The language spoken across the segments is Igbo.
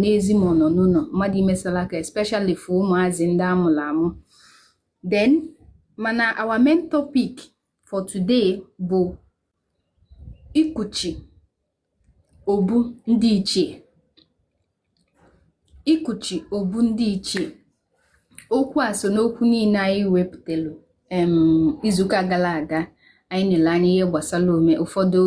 n'ezi ma ọ nọ n'ụlọ mmadụ ime salaka especially for ụmụazị ndị amụrụ amụ then mana our main topic for today bụ ikuchi obu ndị ichie ikuchi obu ndị ichie okwu a so n'okwu niile anyị wepụtelu em izuụka gara aga anyị nele anya ihe gbasara ome ụfọdụ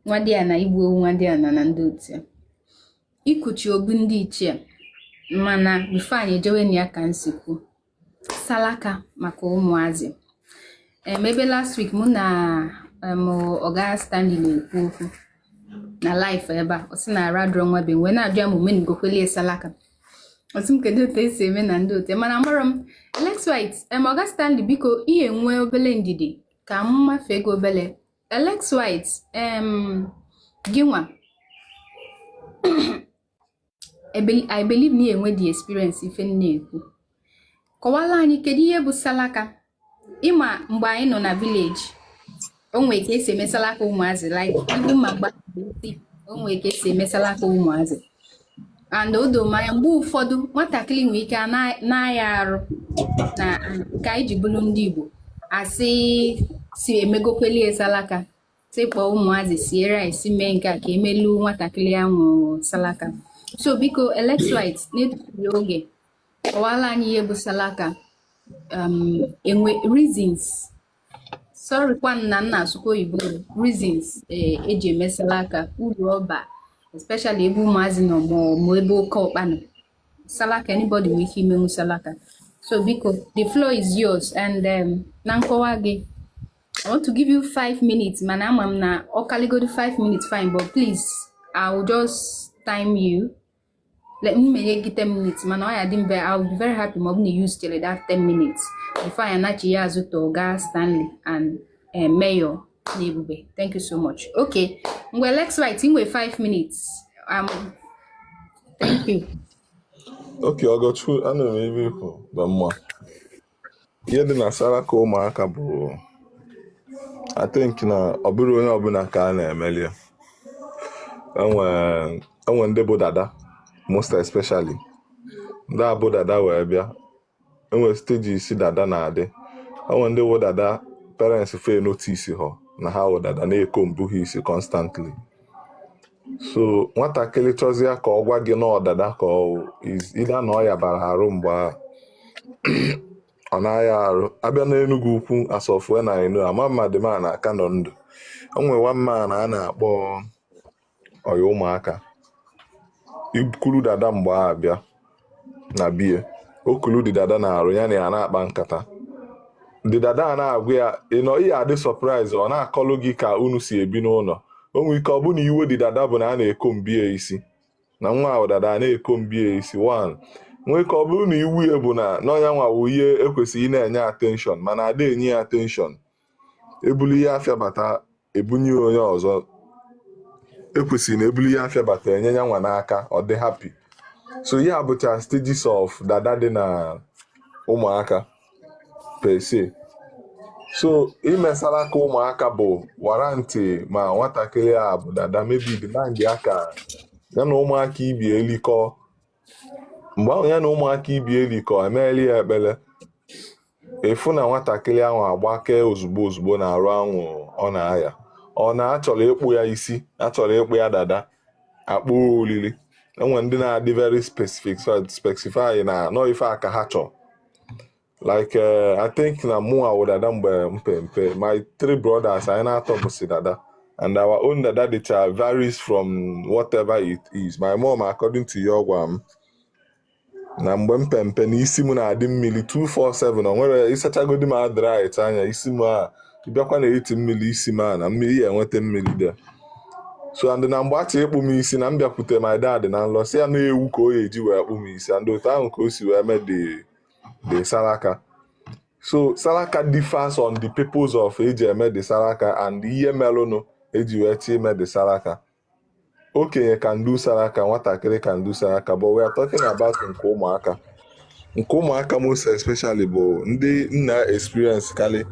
nwadịana igbu ewu nwadịana na ndị otu ya ikuchi obu ndị ichie mana bifo anyị ejewe na ya ka nsikwu salaka maka ụmụazị em ebe last week mụ na em ọga Stanley na-ekwu okwu na live ebe a ọ sị na arụ adịrọ nwa be wee na-ajụ ya ma omenigokwelie salaka ọ jụ m kedu otu esi eme na ndị otu ya mana amarọ m Alex White em ọga Stanley biko ị ya-enwe obele ndidi ka m mafee gị obele Alex White gị nwa I believe na ị ya-enwe the experience ife m na-ekwu kọwala anyị kedu ihe bụ salaka ịma mgbe anyị nọ na village o nwere ka esi eme salaka ụmụazị like ibu ma mgbe o nwere ka esi eme salaka ụmụazị and o do m anya mgbe ụfọdụ nwatakịrị nwere ike na-aya arụ na ka anyị ji bụrụ ndị Igbo asị sị emegokwelie salaka sị kpọọ ụmụazị sie rice mee nke a ka emelu nwatakịrị ahụ salaka so biko Alex White na-etufurọ oge kọwala anyị ihe bụ salaka um, enwe reasons sorrykwa na m na-asụkwa oyibo reasons eji eh, eme salaka uru ọ ba especially ebe ụmụazị nọ ma ebe oke ọkpa nọ salaka anybody nwere ike imenwu salaka so biko the floor is yours and um, na nkọwa gị I want to give you five minutes mana ama m na ọ kaligodi five minutes fine but please I will just time you let me make it 10 minutes mana ọ ya dị mbe I will be very happy ma ọ bụ na ị use chere that 10 minutes before anyị anachiya azụ to ọga Stanley and eh, Mayor na Ebube thank you so much okay ngwa Alex White i nwe 5 minutes um, thank you okay Ọgọchukwu ana m ebe ikwu na mma ihe dị na saraka ụmụaka bụ I think na ọ bụrọ onye ọbụla ka a na-emeli ya enwe enwe ndị bụ dada most especially ndị abụ dada wee bịa enwe stage isi dada na-adị enwe ndị bụ dada parents fe notice ha na ha wụ dada na-ecomb ha isi constantly so nwatakịrị chọzie ka ọ gwa gị na ọ dada ka ọ ịda na ọ ya bara arụ mgbe ahụ ọ na-aya arụ abịa n'enugwu ukwu as of when I knew ama m ma the man a ka nọ ndụ o nwere one man a na-akpọ ọya ụmụaka ikuru dada mgbe ahụ bịa na be ya o kulu the dada na arụ ya na ya na-akpa nkata the dada a na-agwa ya you know ị ya adị surprise ọ na-akọlụ gị ka unu si ebi n'ụlọ o nwere ike ọ bụ na iwe the dada bụ na a na-ecomb ya isi na nwa ahụ dada a na-ecomb ya isi one nwere ike ọ bụrụ na iwe ya bụ na na ọ nya nwa wụ ihe ekwesịrị na-enye attention mana ada enye ya attention ebulu ihe afịa bata ebunye ya onye ọzọ ekwesịrị na ebulu ihe afịa bata enye ya nwa n'aka ọ dị happy so ihe a bụcha stages of dada dị na ụmụaka per se so ime saraka ụmụaka bụ warranty ma nwatakịrị a bụ dada maybe demand ya ka ya na ụmụaka ibe ya likọ mgbe ahụ ya na ụmụaka ibe ya likọ emeelu ya ekpere ị fụ na nwatakịrị ahụ agbakee ozugbo ozugbo na arụ ahụ ọ na-aya or na achọrọ ịkpụ ya isi achọrọ ịkpụ ya dada akpọ olili enwe ndị na-adị very specific specify na na ọ ife a ka ha chọrọ like eh, i think na mụ awụ dada mgbe m pe mpe my three brothers anyị na-atọ bụsi dada and our own dada dịcha varies from whatever it is my mom according to ya ọ gwara m na mgbe m pe mpe na isi m na-adị mmiri 247 o nwere ịsachagodi m adrit anya isi m a bịakwa na eti mmiri isi m a na mmiri ya enweta mmiri there so and na mgbe achọ ịkpụ m isi na m bịakwute my dad na nlọ sị ya na ewu ka ọ ya eji wee kpụ m isi and otu ahụ ka o si wee mee the the Saraka. So Saraka differs on the purpose of eji eme the Saraka and ihe melụnụ eji wee chọ ime the Saraka. Okenye can do Saraka, nwatakịrị can do Saraka, but we are talking about nke ụmụaka. Nke ụmụaka most especially bụ ndị na-experience karịa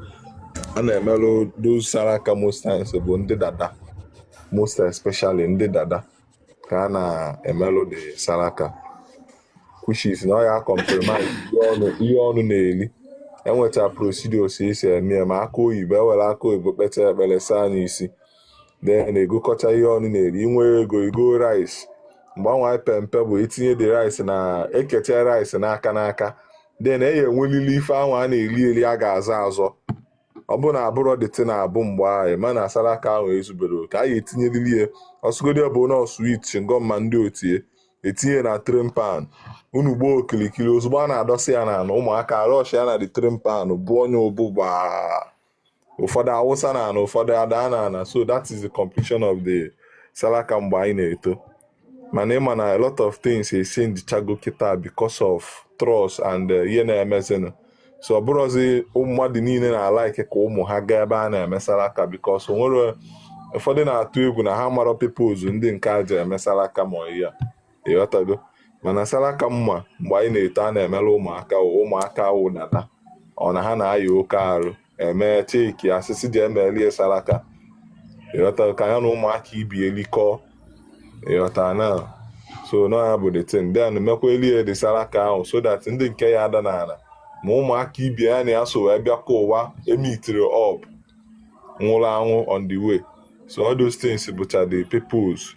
na-emelụ those Saraka most times bụ ndị dada most especially ndị dada. ka a na-emelụ the saraka which is na ọ ya compromise ihe ọnụ na-eli enweta procedures esi eme ya ma akụ oyibo ewere akụ oyibo kpecha ekpere saa nya isi then egokọta ihe ọnụ na-eri i nwe ego igo rice mgbe anyị pe mpe bụ etinye the rice na eketa rice n'aka n'aka then e ya enwelili ife ahụ a na-eli eli a ga-azọ azọ ọ bụrụ na abụrọ dịtị na abụ mgbe ahụ mana salaka ahụ ezuberọ oke a ya etinyeriri ya ọsụgodi ọ bụ na sweet chewing gum ma ndị otie etinye na tray pan unu gbaa okilikili ozugbo a na-adọsị ya n'ala ụmụaka rush ya na the tray pan bụ onye o bu gbaa ụfọdụ awụsa na ala ụfọdụ ada na ala so that is the completion of the salaka mgbe anyị na-eto mana ịma na a lot of things echenjichago kịta because of trust and eh, ihe na-emezinụ so ọ bụrụzi mmadụ niile na-alaiki ka ụmụ ha gaa ebe a na-eme salaka because onwere ụfọdụ na-atụ egwu na ha mara purpose ndị nke a ji eme salaka ma ya ịghọtago mana salaka mma mgbe anyị na-eto a na-emere ụmụaka ụmụaka wụdata ọ na ha na-aya oke arụ emecha ka a sị sị jee melie saraka ịghọta ka ya na ụmụaka ibe ya likọ ịghọta na so na ya bụ the thing then mekwa elie the saraka ahụ so that ndị nke ya ada n'ala ma ụmụaka ibe ya na ya so wee bịakwa ụwa emitiri up nwụrụ anwụ on the way so all those things bụcha the purpose